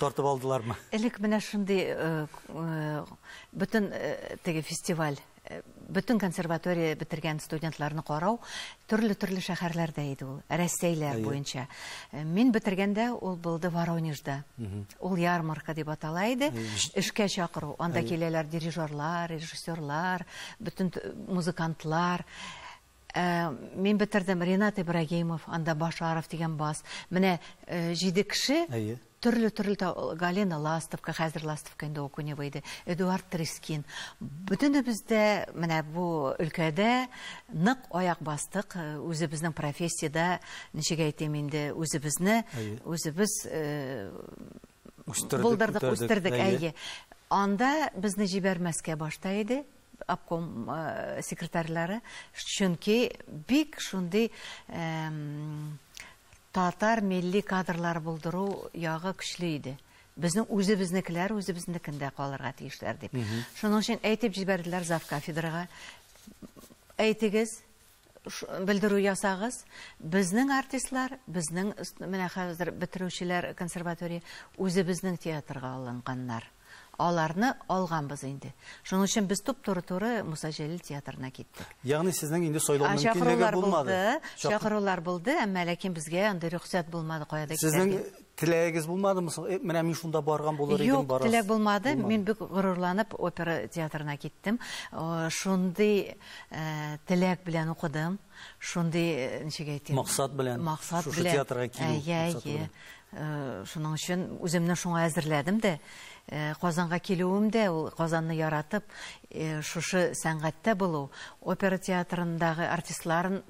Тартып алдылармы? Элек менә шундый бөтен теге фестиваль, бөтен консерватория бетергән студентларны карау төрле-төрле шәһәрләрдә иде ул, Рәсәйләр буенча. Мин бетергәндә ул булды Воронежда. Ул ярмарка дип атала иде. Эшкә чакыру. Анда киләләр дирижерлар, режиссерлар, бөтен музыкантлар. Ә, мин бетердем, Ренат Ибрагимов, анда Башаров дигән бас. Менә э, җиде кеше. Әйе. Төрле-төрле та Галина Ластовка, хәзер Ластовка инде ул Кунева иде, Эдуард Трескин. Бөтенебез дә менә бу өлкәдә нык аяк бастык, э, үзебезнең профессиядә, ничек әйтим инде, үзебезне, Әйе. үзебез э, Булдырдык, үстердек, әйе. Анда безне җибәрмәскә башта иде обком секретарьлары, чөнки бик шундый татар милли кадрлар булдыру ягы көчле иде. Безнең үзебезнекеләр үзебезнекендә калырга тиешләр дип. Шуның өчен әйтеп җибәрделәр завкафедрага. Әйтегез, Белдерү ясагыз. Безнең артистлар, безнең менә хәзер бетерүчеләр консерватория үзебезнең театрга алынганнар. Аларны алганбыз инде. Шуның өчен без туп-туры-туры Муса Җәлил театрына киттек. Ягъни сезнең инде сайлау мөмкинлеге булмады. Чакырулар булды, әмма ләкин безгә андый рөхсәт булмады кая да китәргә. Сезнең Теләгегез булмадымы соң? Э, менә мин шунда барган булыр идем, Юк, теләк булмады. Мин бик горурланып опера театрына киттем. Шундый э, теләк белән укыдым. Шундый, э, ничек әйтим? Максат белән. Максат белән. Шушы театрга килү. Әйе, әйе. Шуның өчен үземне шуңа әзерләдем дә. Э, Казанга килүем дә ул Казанны яратып, э, шушы сәнгатьтә булу, опера театрындагы артистларын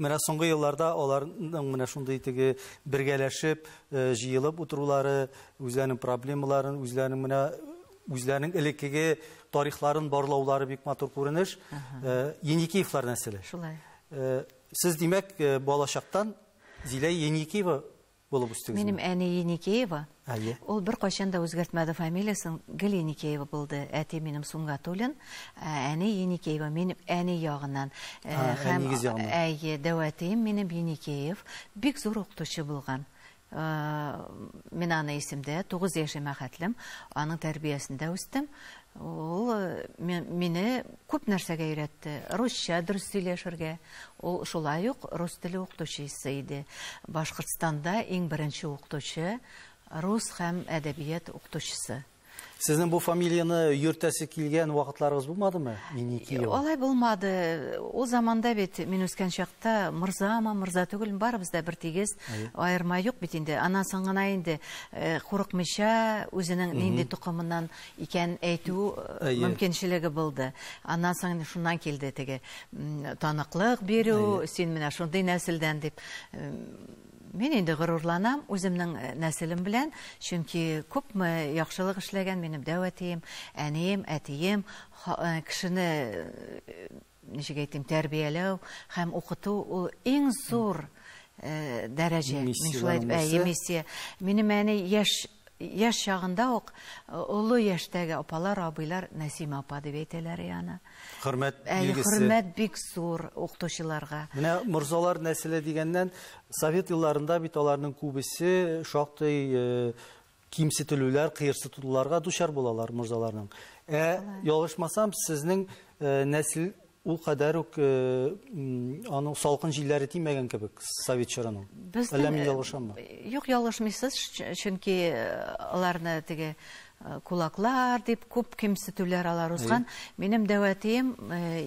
Менә соңгы елларда аларның менә шундый теге бергәләшеп, җыелып утырулары, үзләренең проблемаларын, үзләренең менә үзләренең элеккеге тарихларын барлаулары бик матур күренеш. Еникеевлар нәселе. Шулай. Сез, димәк, балачактан Зилә Еникеева булып үстегезме? Минем әни Еникеева. Әйе. Ул беркайчан да үзгәртмәде фамилиясен, гел Еникеева булды. Әти минем Сунгатуллин, ә әни Еникеева. Мин әни ягыннан. Э, а, һәм, әнигез ягыннан. Әйе, дәвәтием минем Еникеев. Бик зур укытучы булган. Э, мин аны исемдә, 9 яшемә хәтлем, аның тәрбиясендә үстем. Ул мине күп нәрсәгә өйрәтте. Русча дөрес сөйләшергә. Ул шулай ук рус теле укытучысы иде. Башкортстанда иң беренче укытучы, рус һәм әдәбият укытучысы. Сезнең бу фамилияне йөртәсе килгән вакытларыгыз булмадымы? Миникиева. Алай булмады. Ул заманда бит мин үскән чакта морзама, морза түгел, барыбыз да бер тигез. Аерма юк бит инде. Аннан соң гына инде э, курыкмыйча, үзенең нинди тукымыннан икән әйтү мөмкинчелеге булды. Аннан соң шуннан килде теге таныклык бирү, син менә шундый нәселдән дип. Мин инде горурланам үземнең э, нәселем белән, чөнки күпме яхшылык эшләгән минем дәү әтием, әнием, әтием, э, кешене э, Ничек әйтим, тәрбияләү һәм укыту ул иң зур дәрәҗә. Мин шулай дип, әйе, миссия. Минем әни яшь яшь чагында ук олы яшьтәге апалар, абыйлар Нәсимә апа дип әйтәләр аны. Хөрмәт билгесе. Хөрмәт бик зур укытучыларга. Менә морзалар нәселе дигәннән, совет елларында бит аларның күбесе шактый кимсетелүләр, кыерсытуларга дучар булалар морзаларның. Ә ялгышмасам, сезнең э, нәсел ул кадәр үк э, аның салкын җилләре тимәгән кебек совет чорының. Безнең... Әллә мин э, ялгышаммы? Юк, ялгышмыйсыз, чөнки аларны теге кулаклар дип күп кимсетүләр алар узган. Минем дәвәтием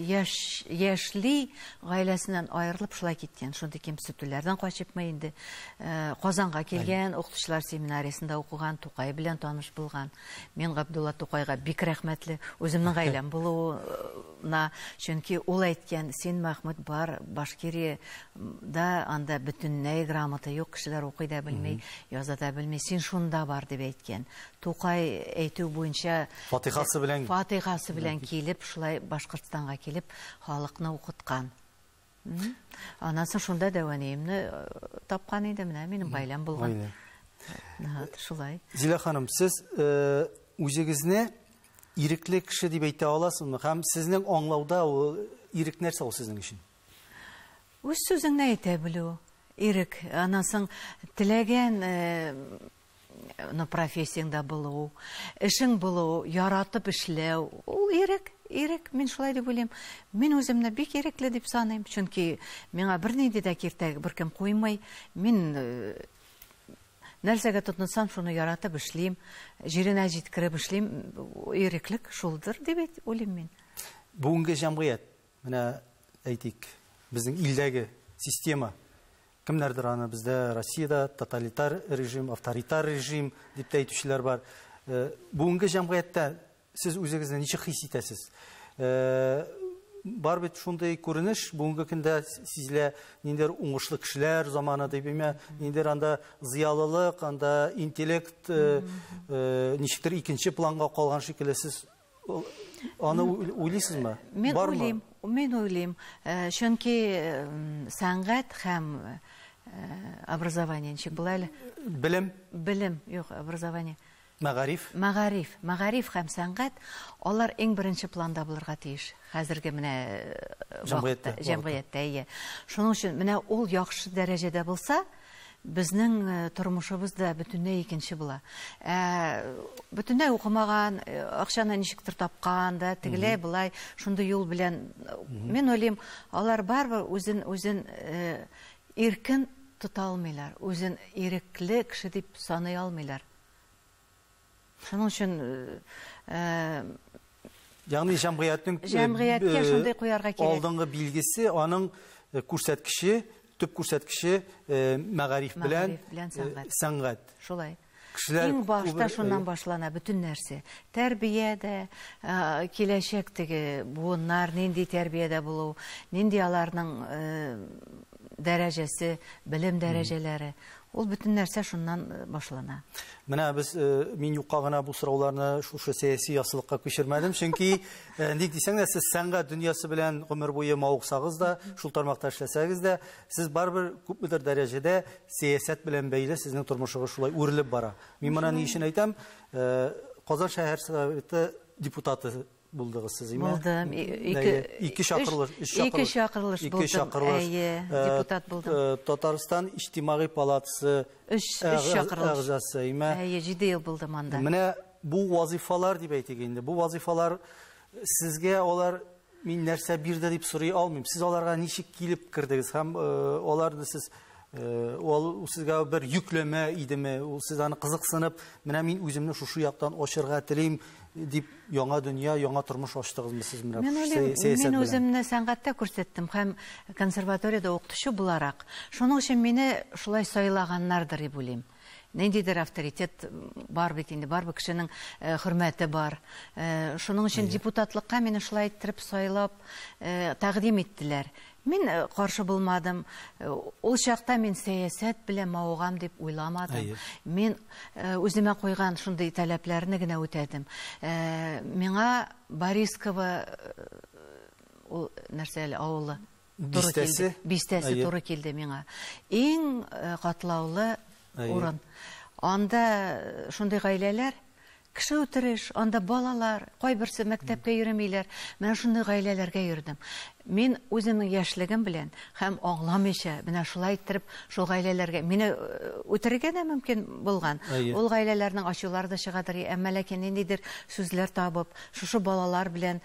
яшь, яшьли гаиләсеннән аерылып шулай киткән, шундый кимсетүләрдән качыпмы инде. Э, Казанга килгән, укытучылар семинариясендә укыган, Тукай белән таныш булган. Мин Габдулла Тукайга бик рәхмәтле. Үземнең гаиләм булуына, чөнки ул әйткән, син Мәхмүд бар, Башкирия да анда бөтенләй грамота юк, кешеләр укый да белми, яза да белми. Син шунда бар дип әйткән. Тукай әйтү буенча Фатихасы белән Фатихасы белән килеп, шулай Башкортстанга килеп, халыкны укыткан. Аннан соң шунда дәвәниемне тапкан иде, менә минем гаиләм булган. Гаилә. Шулай. Зилә ханым, сез үзегезне ирекле кеше дип әйтә аласызмы? Һәм сезнең аңлауда ул ирек нәрсә ул сезнең өчен? Үз сүзеңне әйтә белү, ирек. Аннан соң теләгән ну профессияңдә булу, эшең булу, яратып эшләү, ул ирек, ирек, мин шулай дип уйлыйм. Мин үземне бик ирекле дип саныйм, чөнки миңа бернинди дә киртәк беркем куймый. Мин э, нәрсәгә тотынсам, шуны яратып эшлим, җиренә җиткереп эшлим. Иреклек шулдыр дип уйлыйм мин. Бүгенге җәмгыять, менә әйтик, безнең илдәге система Кемнәрдер аны бездә Россиядә тоталитар режим, авторитар режим дип тә әйтүчеләр бар. Э, бүгенге җәмгыятьтә сез үзегезне ничек хис итәсез? Э, бар бит шундый күренеш бүгенге көндә сизелә, ниндидер уңышлы кешеләр заманы дип имә, ниндидер анда зыялылык, анда интеллект э, ничектер икенче планга калган шикелле сез Аны уйлыйсызмы? Мин уйлыйм, мин уйлыйм. Э, чөнки э, сәнгать һәм э, образование ничек була әле? Белем. Белем, юк, образование. Мәгариф. Мәгариф, мәгариф һәм сәнгать, алар иң беренче планда булырга тиеш. Хәзерге менә җәмгыятьтә, җәмгыятьтә, ие. Шуның өчен менә ул яхшы дәрәҗәдә булса, безнең тормышыбыз да бөтенләй икенче була. Ә бөтенләй укымаган, акчаны ничектер тапкан да, тегеләй былай шундый юл белән мин уйлыйм, алар барыбер үзен үзен иркен тота алмыйлар, үзен ирекле кеше дип саный алмыйлар. Шуның өчен Ягъни җәмгыятьнең җәмгыятькә шундый куярга кирәк. Алдынгы билгесе, аның күрсәткече, төп күрсәткече мәгариф белән сәнгать. Шулай. Иң башта шуннан башлана бөтен нәрсә. Тәрбия дә, киләчәктәге буыннар нинди тәрбиядә булу, нинди аларның дәрәҗәсе, белем дәрәҗәләре, Ул бөтен нәрсә шуннан э, башлана. Менә без э, мин юкка гына бу сорауларны шушы сәяси ясылыкка күчермәдем, чөнки э, ник дисәң дә сез сәнгать дөньясы белән гомер буе мавыксагыз да, шул тармакта эшләсәгез дә, сез барыбер күпмедер дәрәҗәдә сәясәт белән бәйле сезнең тормышыгыз шулай үрелеп бара. Мин моны ни өчен әйтәм? Казан шәһәр советы депутаты булдыгыз сез име? Булдым. Ике ике чакырлыш, өч чакырлыш. Ике чакырлыш булдым. Ике чакырлыш. Әйе, э, депутат булдым. Э, Татарстан иҗтимагый палатасы өч чакырлыш әгъзасы име? Әйе, 7 ел булдым анда. Менә бу вазифалар дип әйтик инде. Бу вазифалар сезгә алар мин нәрсә бирде дип сорый алмыйм. Сез аларга ничек килеп кердегез һәм э, аларны сез Э, ул сезгә бер йөкләмә идеме ул сез аны кызыксынып менә мин үземне шушы яктан ачырга телим дип яңа дөнья яңа тормыш ачтыгызмы сез менә мен уйлыйм мин үземне сәнгатьтә күрсәттем һәм консерваториядә укытучы буларак шуның өчен мине шулай сайлаганнардыр дип уйлыйм ниндидер авторитет бар бит инде барбы кешенең э, хөрмәте бар э, шуның өчен депутатлыкка мине шулай иттереп сайлап э, тәкъдим иттеләр Мин каршы булмадым. Ул чакта мин сәясәт белән мавыгам дип уйламадым. Мин үземә куйган шундый таләпләрне генә үтәдем. Миңа Борисково ул нәрсә әле авылы? Бистәсе. Бистәсе туры килде миңа. Иң катлаулы урын. Анда шундый гаиләләр, Кеше үтереш, анда балалар, кайберсе мәктәпкә йөремиләр. Менә шундый гаиләләргә йөрдем. Мин үземнең яшьлегем белән һәм аңламыйча, менә шулай иттереп шул гаиләләргә, мине үтерергә дә мөмкин булган. Ул гаиләләрнең ачулары да чыгадыр, әмма ләкин ниндидер сүзләр табып, шушы балалар белән,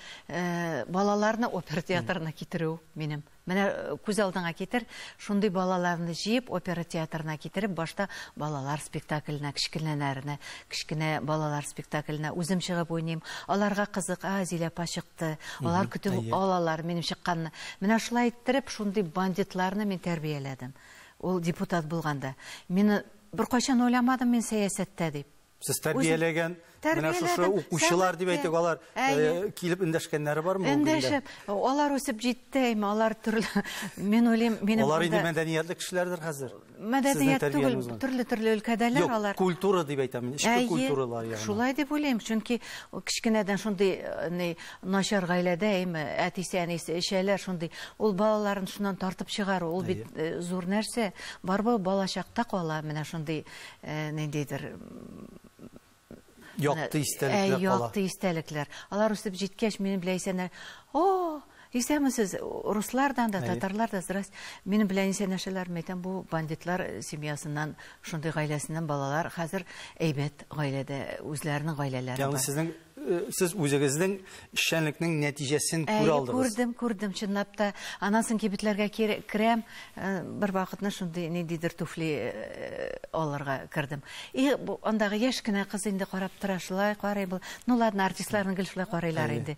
балаларны опер театрына китерү минем. Менә күз алдыңа китер, шундый балаларны җыеп опера театрына китереп, башта балалар спектакленә, кечкенәләрне, кечкенә балалар спектакленә үзем чыгып уйныйм. Аларга кызык, а, Зилә апа чыкты. Алар көтеп алалар минем чыкканны. Менә шулай иттереп, шундый бандитларны мин тәрбияләдем. Ул депутат булганда. Мине беркайчан уйламадым мин сәясәттә дип. Сез тәрбияләгән, менә шушы укучылар дип әйтик, алар килеп эндәшкәннәре бармы бүгенге көндә? Эндәшеп, алар үсеп җитте, әйме, алар төрле, мин уйлыйм, минем Алар инде мәдәниятле кешеләрдер хәзер. Мәдәният түгел, төрле-төрле өлкәдәләр алар. Юк, культура дип әйтәм мин, эчке культуралар ягына. Шулай дип уйлыйм, чөнки кечкенәдән шундый начар гаиләдә, әйме, әтисе, әнисе эчәләр, шундый. Ул балаларын шуннан тартып чыгару, ул бит зур нәрсә. Барыбер балачакта кала менә шундый. э, ниндидер якты истәлекләр кала. Якты истәлекләр. Алар үсеп җиткәч, минем белән исәннәр. О, исәмесез, руслардан да, татарлар да, здрасте. Минем белән исәнәшәләр, мәйтәм, бу бандитлар семьясыннан, шундый гаиләсеннән балалар хәзер әйбәт гаиләдә, үзләренең гаиләләре бар. Ягъни сезнең Э, сез үзегезнең эшчәнлекнең нәтиҗәсен күрә алдыгыз. Әйе, күрдем, күрдем, чынлап та. Аннан соң кибетләргә керәм, э, бер вакытны шундый ниндидер туфли э, алырга кердем. И андагы яшь кенә кыз инде карап тора, шулай карый бул. Ну ладно, артистларның гел шулай карыйлар инде.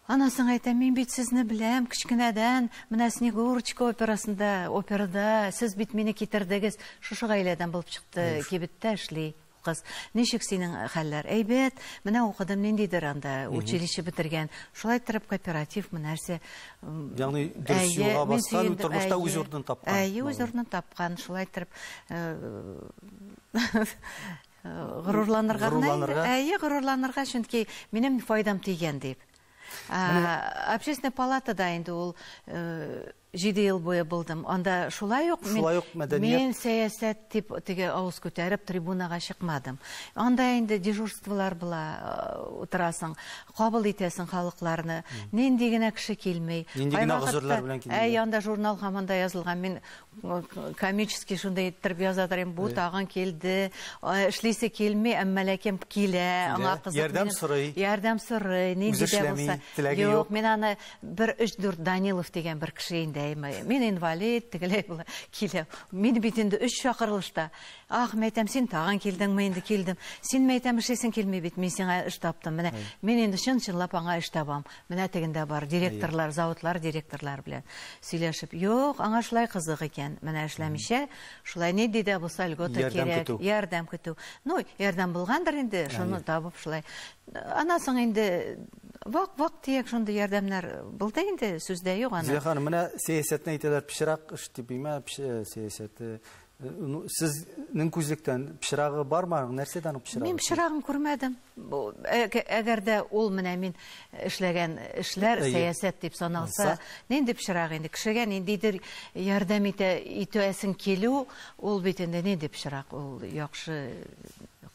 Аннан соң әйтәм, мин бит сезне беләм, кечкенәдән, менә Снегурочка операсында, операда, сез бит мине китердегез, шушы гаиләдән булып чыкты, кибеттә эшли. Кыз, Ничек синең хәлләр? Әйбәт. Менә укыдым, ниндидер анда училище бетергән. Шулай торып кооперативмы, нәрсә? Ягъни дөрес юлга баскан, тормышта үз урынын тапкан. Әйе, үз урынын тапкан. Шулай торып горурланырга гына инде. Әйе, горурланырга, чөнки минем файдам тигән дип. Общественная палатада инде ул Җиде ел буе булдым. Анда шулай ук мин, шулай ук мәдәният... мин сәясәт дип теге авыз күтәреп трибунага чыкмадым. Анда инде дежурстволар була, утырасың, кабул итәсең халыкларны. Нинди генә кеше килми. Нинди генә гозерләр белән килми. Әй, анда журнал хаманда язылган. Мин комический шундый иттереп язадыр инде. Бу тагын килде. Эшлисе килми, әмма ләкин килә. Аңа кызык. Ярдәм сорый. Ярдәм сорый. Нинди дә булса. Юк, мин аны Бер өч-дүрт Данилов дигән бер кеше инде, әйме, мин инвалид, тегеләй була, килә. Мин бит инде өч чакырылышта. Ах, мәйтәм, син тагын килдеңме инде, килдем. Син мәйтәм, эшлисең килми бит, мин сиңа эш таптым. Менә мин инде чын-чынлап аңа эш табам. Менә тегендә бар, директорлар, заводлар директорлары белән сөйләшеп. Юк, аңа шулай кызык икән. Менә эшләмичә, шулай ни дидә булса льгота кирәк. Ярдәм көтү. Ну, ярдәм булгандыр инде, шуны табып шулай. Аннан соң инде вак-вак дияк шундый ярдәмнәр булды инде, сүз дә юк аны. Зилә ханым, менә сәясәтне әйтәләр, пычрак эш дип имә, сәясәте. Ну, сезнең күзлектән пычрагы бармы аның? Нәрсәдән ул пычрагы? Мин пычрагын күрмәдем. Әгәр дә ул менә мин эшләгән эшләр сәясәт дип саналса, нинди пычрак инде? Кешегә ниндидер ярдәм итә, итәсең килү, ул бит инде нинди пычрак? Ул яхшы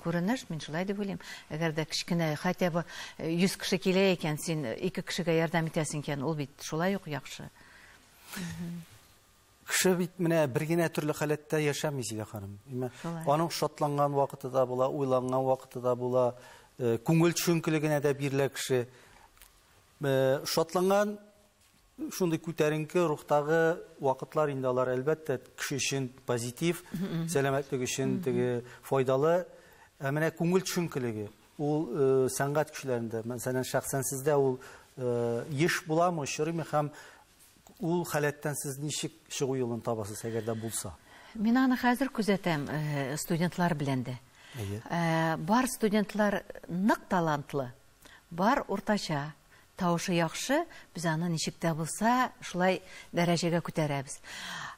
Күренеш, мин шулай дип уйлыйм. Әгәр дә кечкенә, хотя бы 100 кеше килә икән, син ике кешегә ярдәм итәсең икән, ул бит шулай ук яхшы. Кеше бит менә бер генә төрле халәттә яшәми, Зилә ханым. Аның шатланган вакыты да була, уйланган вакыты да була, э, күңел төшенкелегенә дә бирелә кеше. Э, шатланган Шундый күтәренке рухтагы вакытлар инде алар, әлбәттә, кеше өчен позитив, сәламәтлек өчен теге файдалы. Ә менә күңел төшенкелеге, ул э, сәнгать кешеләрендә, мәсәлән, шәхсән сездә ул э, еш буламы, очрыймы һәм ул халәттән сез ничек чыгу юлын табасыз, әгәр дә булса? Мин аны хәзер күзәтәм э, студентлар белән дә. Әйе. Э, бар студентлар нык талантлы, бар уртача, Тавышы яхшы, без аны ничек тә булса шулай дәрәҗәгә күтәрәбез.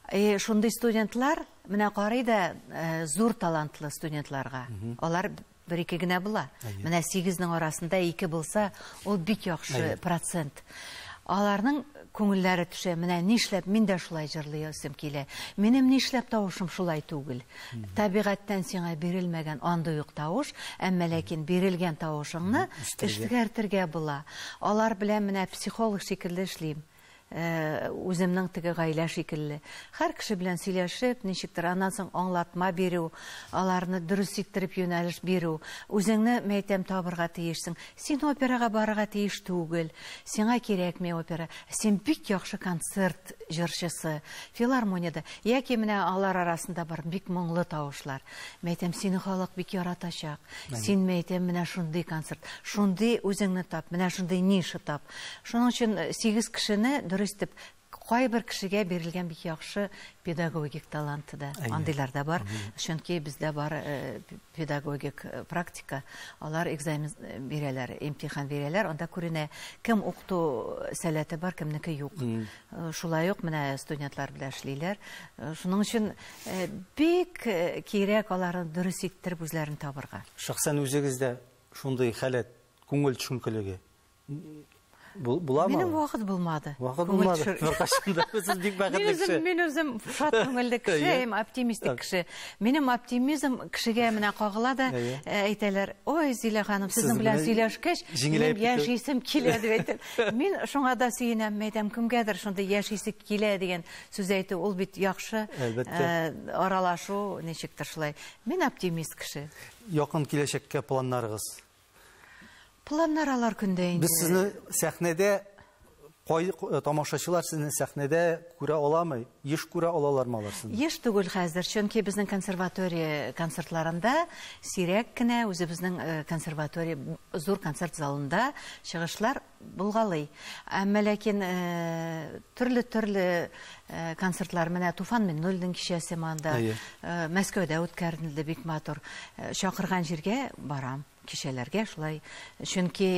Э, шундый студентлар, менә карый да э, зур талантлы студентларга. Алар бер ике генә була. Менә сигезнең арасында ике булса, ул бик яхшы процент. Аларның күңелләре төшә, менә нишләп мин дә шулай җырлый ясым килә. Минем нишләп тавышым шулай түгел. Табигатьтән сиңа бирелмәгән андый ук тавыш, әмма ләкин бирелгән тавышыңны эшкәртергә була. Алар белән менә психолог шикелле эшлим. Үземнең теге гаилә шикелле. Һәр кеше белән сөйләшеп, ничектер аннан соң аңлатма бирү, аларны дөрес иттереп юнәлеш бирү. Үзеңне, мәйтәм, табырга тиешсең. Син операга барырга тиеш түгел, сиңа кирәкми опера, син бик яхшы концерт җырчысы, филармониядә, яки менә алар арасында бар бик моңлы тавышлар. Мәйтәм, сине халык бик яратачак. Син мәйтәм менә шундый концерт, шундый үзеңне тап, менә шундый ниша тап. Шуның өчен э, сигез кешене дөрес итеп Кайбер кешегә бирелгән бик яхшы педагогик таланты да, андыйлар да бар. Чөнки бездә бар э, педагогик э, практика, алар экзамен э, бирәләр, имтихан бирәләр, анда күренә, кем укыту сәләте бар, кемнеке юк. Шулай ук менә студентлар белән эшлиләр. Шуның өчен бик кирәк аларны дөрес иттереп үзләрен табырга. Шәхсән үзегездә шундый халәт, күңел төшенкелеге Буламы? Минем вакыт булмады. Вакыт булмады. Беркашында сез бик бәхетле кеше. Мин мин үзем шат күңелле кеше, һәм оптимистик кеше. Минем оптимизм кешегә менә кагыла да әйтәләр, "Ой, Зилә ханым, сезнең белән сөйләшкәч, мин яшисем килә" дип әйтеп. Мин шуңа да сөенәм, мәйтәм, кемгәдер шундый яшисе килә дигән сүз әйтү, ул бит яхшы. Әлбәттә. Аралашу ничектер шулай. Мин оптимист кеше. Якын киләчәккә планнарыгыз? Планнар алар көндә инде. Без сезне сәхнәдә кай тамашачылар сезне сәхнәдә күрә аламы? Еш күрә алалармы алар сезне? Еш түгел хәзер, чөнки безнең консерватория концертларында сирәк кенә, үзебезнең консерватория зур концерт залында чыгышлар Булгалый. Әмма ләкин төрле-төрле концертлар, менә Туфан Миннуллинның кичәсе монда, Мәскәүдә үткәрелде, бик матур. Чакырган җиргә барам, кичәләргә шулай. Чөнки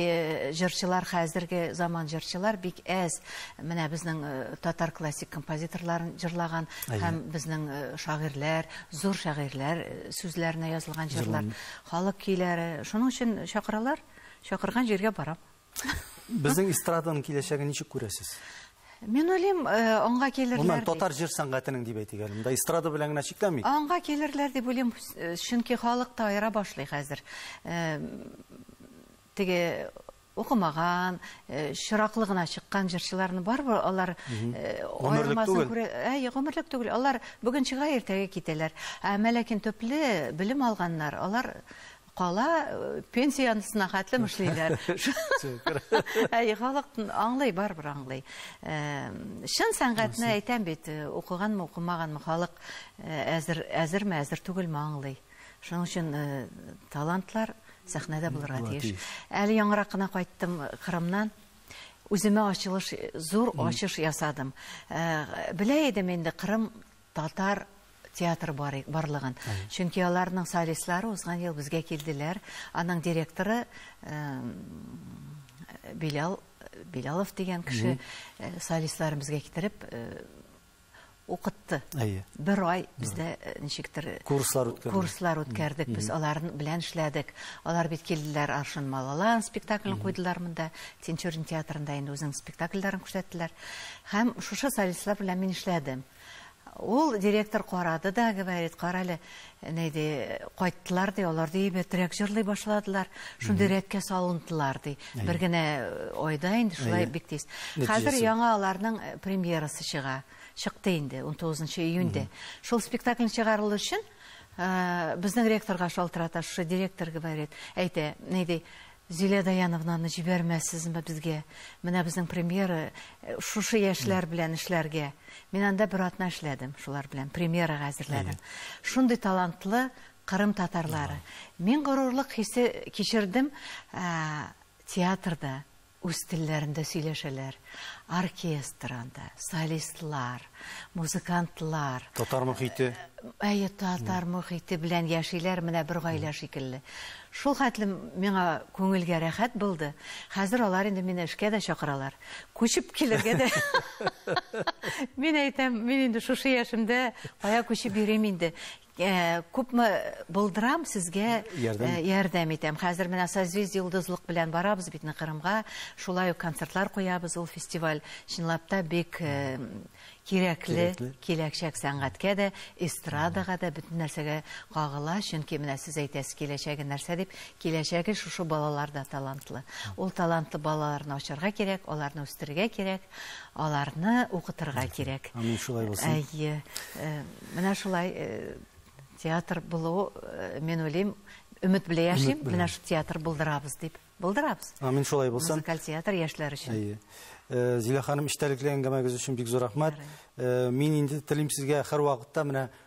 җырчылар, хәзерге заман җырчылар бик әз. Менә безнең татар классик композиторларын җырлаган һәм безнең шагыйрьләр, зур шагыйрьләр сүзләренә язылган җырлар, халык көйләре. Шуның өчен чакыралар, Чакырган җиргә барам. Безнең эстраданың киләчәген ничек күрәсез? Мин уйлыйм, э, аңга килерләр. Моннан татар җыр сәнгатенең дип әйтик әле. Монда эстрада белән генә чикләмик. Аңга килерләр дип уйлыйм, э, чөнки халык та аера башлый хәзер. Э, теге укымаган, э, чираклы гына чыккан җырчыларны барыбер алар э, аермасын күрә. Әй, гомерлек түгел. Алар бүген чыга, иртәгә китәләр. Ә мә төпле белем алганнар, алар Кала пенсия янысына хәтлем эшлиләр. Әй, халык аңлый, барыбер аңлый. Чын сәнгатьне әйтәм бит, укыганмы, укымаганмы, халык әзер, әзерме, әзер түгелме аңлый. Шуның өчен талантлар сәхнәдә булырга тиеш. Әле яңарак кына кайттым Кырымнан. Үземә ачылыш, зур ачыш ясадым. Белә идем инде, Кырым Татар театры бар барлыгын. Чөнки аларның солистлары узган ел безгә килделәр. Аның директоры Белял Белялов дигән кеше э, солистларын безгә китереп э, укытты. Әйе. Бер ай бездә э, ничектер курслар үткәрдек. Курслар үткәрдек. Без алар белән эшләдек. Алар бит килделәр Аршын Малалан спектаклен куйдылар монда. Тинчурин театрында инде үзенең спектакльләрен күрсәттеләр. Һәм шушы солистлар белән мин эшләдем. Ул директор карады да, говорит, карале, ни ди, кайттылар ди, алар ди әйбәтрәк җырлый башладылар, шундый рәткә салындылар ди. Бер генә айда инде шулай бик тиз. Хәзер яңа аларның премьерасы чыга. Чыкты инде 19 июньдә. Шул спектакль чыгарылу өчен безнең ректорга шалтырата, шушы директор говорит, әйтә, ни ди, Зилә Даяновнаны җибәрмәссезме безгә? Менә безнең премьера шушы яшьләр белән эшләргә. Мин анда бер атна эшләдем шулар белән, премьерага әзерләдем. Шундый талантлы Кырым татарлары. Мин горурлык хисе кичердем, театрда үз телләрендә сөйләшәләр. Оркестр анда, солистлар. музыкантлар. Татар мохите. Әйе, татар мохите белән яшиләр, менә бер гаилә шикелле. Шул хәтле миңа күңелгә рәхәт булды. Хәзер алар инде мине эшкә дә чакыралар. Күчеп килергә дә. Мин әйтәм, мин инде шушы яшемдә кая күчеп йөрим инде. Э, күпме булдырам сезгә э, ярдәм итәм хәзер менә созвездие йолдызлык белән барабыз бит кырымга шулай ук концертлар куябыз ул фестиваль чынлап та бик э, кирәкле киләчәк сәнгатькә дә эстрадага да бөтен нәрсәгә кагыла чөнки менә сез әйтәсез киләчәге нәрсә дип киләчәге шушы балаларда талантлы ул талантлы балаларны ачарга кирәк аларны үстерергә кирәк аларны укытырга кирәк. Амин, шулай булсын. Әйе. Э, менә шулай э, театр булу, э, мин уйлыйм, өмет белән яшим, менә шул театр булдырабыз дип. Булдырабыз. Амин, шулай булсын. Музыкаль театр яшьләр өчен. Әйе. Зилә ханым, эчтәлекле әңгәмәгез өчен бик зур рәхмәт. Мин инде телим сезгә һәр вакытта менә